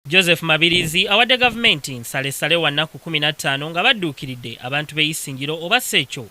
Joseph Mabirizi awadde gavumenti nsalesale wa nnaku kumi na ttaano nga badduukiridde abantu b'e Isingiro oba si ekyo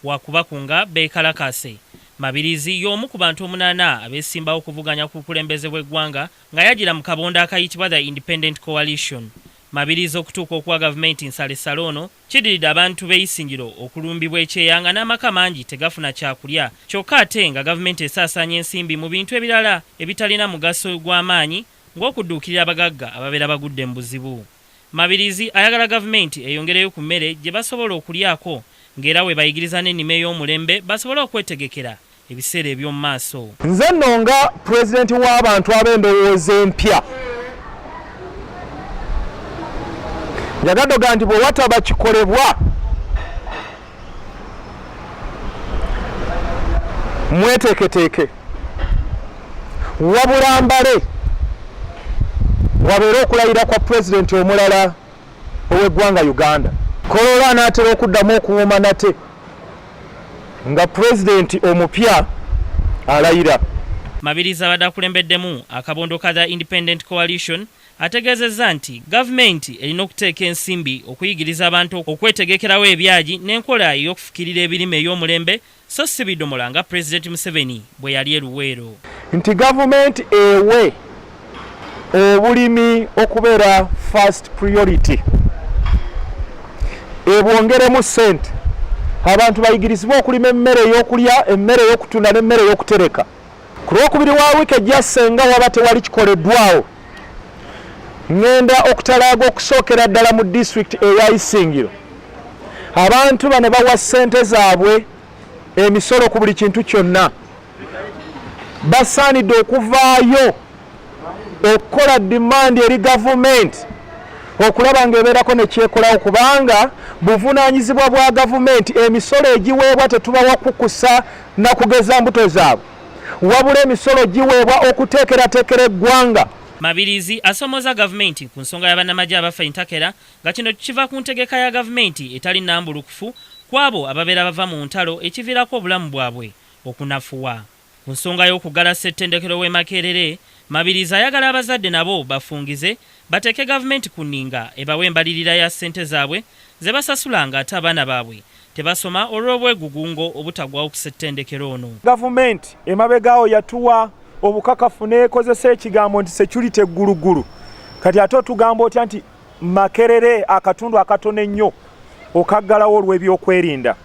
waakubakunga beekalakaase. Mabirizi y'omu ku bantu omunaana abeesimbawo okuvuganya ku bukulembeze bw'eggwanga ng'ayagira mu kabondo akayitibwa The Independent Coalition. Mabirizi okutuuka okuwa gavumenti nsalesale ono kiddiridde abantu b'e Isingiro okulumbibwa ekyeya nga n'amaka mangi tegafuna kyakulya kyokka ate nga gavumenti esaasaanya ensimbi mu bintu ebirala ebitalina mugaso gwa maanyi ng'okudduukirira abagagga ababeera bagudde mu buzibu. Mabirizi ayagala gavumenti eyongereyo ku mmere gye basobola okulyako ng'era webayigiriza n'ennima ey'omulembe basobole okwetegekera ebiseera eby'omu maaso. Nze nno nga Pulezidenti w'abantu ab'endowooza empya njagaddoga nti bwe wataba kikolebwa, mweteeketeeke wabula mbale wabeere okulayira kwa pulezidenti omulala ow'eggwanga uganda kolola anaatera okuddamu okuwuuma nate nga pulezidenti omupya alayira mabirizi abadde akulembeddemu akabondo ka the independent coalition Ategeezezza nti gavumenti erina okuteeka ensimbi okuyigiriza abantu okwetegekerawo ebyagi n'enkola ey'okufukirira ebirime ey'omulembe so si bidomola nga Pulezidenti Museveni bwe yali e Luweero. Nti gavumenti ewe obulimi okubeera first priority, ebwongeremu ssente, abantu bayigirizibwe okulima emmere ey'okulya, emmere ey'okutunda n'emmere ey'okutereka. ku lwokubiri wa wiiki ejja senga waba tewali kikoleddwawo ŋŋenda okutalaaga okusookera ddala mu disitulikiti eya isingiro abantu bano bawa ssente zaabwe emisolo ku buli kintu kyonna basaanidde okuvaayo okukola dimandi eri gavumenti okulaba nga ebeerako nekyekolawo kubanga buvunaanyizibwa bwa gavumenti emisolo egiweebwa tetubawa kukusa na kugeza mbuto zaabwe wabula emisolo giweebwa okuteekerateekera eggwanga. Mabirizi asomooza gavumenti ku nsonga y'abannamagye abafa entakera nga kino kiva ku ntegeka ya gavumenti etali nnambulukufu kw'abo ababeera bava mu ntalo ekiviirako obulamu bwabwe okunafuwa. Ku nsonga y'okuggala ssettendekero w'e Makerere, Mabirizi ayagala abazadde nabo bafungize bateeke gavumenti ku nninga ebawe embalirira ya ssente zaabwe ze basasula ng'ate abaana baabwe tebasoma olw'obwegugungo obutagwawo ku ssettendekero ono. Gavumenti emabegaawo yatuwa obukakafu n'ekozesa ekigambo nti security gguluggulu kati ate otugamba otya nti Makerere akatundu akatono ennyo okaggalawo olw'ebyokwerinda.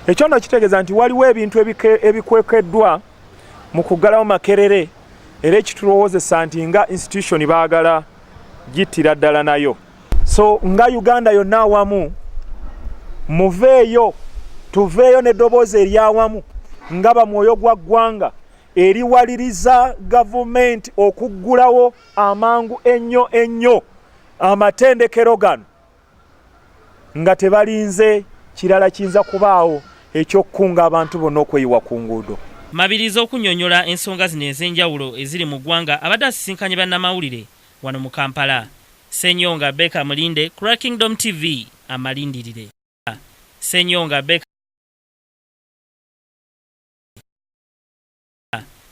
Ekyo nno kitegeeza nti waliwo ebintu ebikwekeddwa mu kuggalawo Makerere era ekitulowoozesa nti nga institution baagala gittira ddala nayo. so nga uganda yonna awamu muveeyo tuveeyo neddoboozi eryawamu nga bamwoyo gwa ggwanga eriwaliriza gavumenti okuggulawo amangu ennyo ennyo amatendekero gano nga tebalinze kirala kiyinza kubaawo ekyokukunga abantu bonna okweyiwa ku nguudo mabiriza okunyonyola ensonga zino ez'enjawulo eziri mu ggwanga abadde asisinkanye bannamawulire Wano mu Kampala, Ssenyonga Baker Mulinde ku lwa Kingdom TV amalindirire. Ssenyonga Baker.